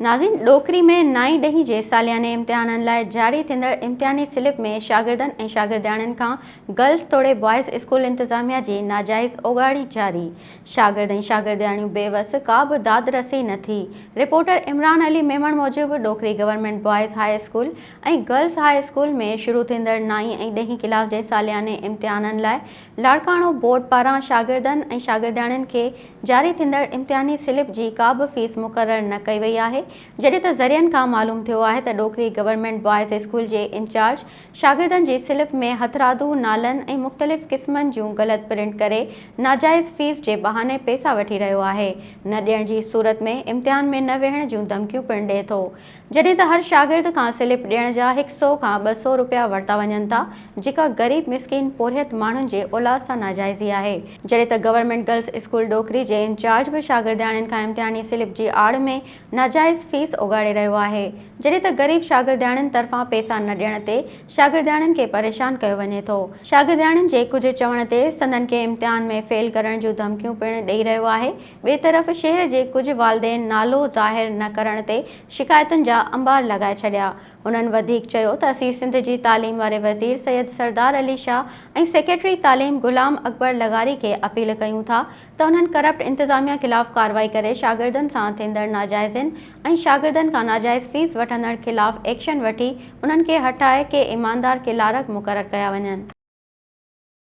ناظرين ڏوڪري ۾ نائين ڏهين جي سالياني امتحانن لاء جاري ٿيندڙ امتحاني سلپ ۾ شاگردن ۽ شاگردياڻين کان گرلس توڙي بوائز اسڪول انتظاميا جي ناجائز اوڳاڙي جاري شاگرد ۽ شاگردياڻيون بي وس ڪا به داد رسي نه ٿي رپورٽر عمران علي ميمڻ موجب Dokri government boys high school ۽ girls high school ۾ شروع ٿيندڙ نائين ۽ ڏهين ڪلاس جي سالياني امتحانن لاء لاڙڪاڻو بورڊ پاران شاگردن ۽ شاگردياڻين کي جاري ٿيندڙ امتحاني سلپ جي ڪا به فيس مقرر نه ڪئي وئي آهي جڏهن ته ذريعن کان معلوم ٿيو آهي ته ڏوڪري گورنمينٽ بوائز اسڪول جي انچارج شاگردن جي سلپ ۾ هٿرادو نالن ۽ مختلف قسمن جون غلط پرنٽ ڪري ناجائز فيس جي بهاني پئسا وٺي رهيو آهي نه ڏيڻ جي صورت ۾ امتحان ۾ نه ويهڻ جون ڌمڪيون پڻ ڏئي ٿو جڏهن ته هر شاگرد کان سلپ ڏيڻ جا هڪ سئو کان ٻه سئو روپيا ورتا وڃن ٿا، جيڪا غريب مسڪين پورهيت ماڻهن جي اولاد سان ناجائزي آهي. جڏهن ته گورنمينٽ گرلس اسڪول ڏوڪري جي انچارج به شاگردياڻين کان امتحاني سلپ جي آڙ ۾ ناجائز فيس اوڳاڙي رهيو آهي، جڏهن ته غريب شاگردياڻين طرفان پئسا نه ڏيڻ تي شاگردياڻين کي پريشان ڪيو وڃي ٿو. شاگردياڻين جي ڪجهه چوڻ تي سندن کي امتحان ۾ فيل ڪرڻ جون ڌمڪيون پڻ ڏئي رهيو آهي. ٻئي طرف شهر جي ڪجهه والدين نالو ظاهر نه ڪرڻ تي شڪايتن جا انبار لڳائي ڇڏيا. هنن وڌيڪ چيو ته اسين سنڌ جي تعليم واري وزير سيد سردار علي شاهه ۽ سيڪريٽري تعليم غلام اڪبر لغاري کي اپيل ڪيون ٿا ته انهن ڪرپٽ انتظاميا خلاف ڪارروائي ڪري شاگردن سان ٿيندڙ ناجائزين ۽ شاگردن کان ناجائز فيس وٺندڙن خلاف ايڪشن وٺي انهن کي هٽائي ڪي ايماندار ڪلارڪ مقرر ڪيا وڃن.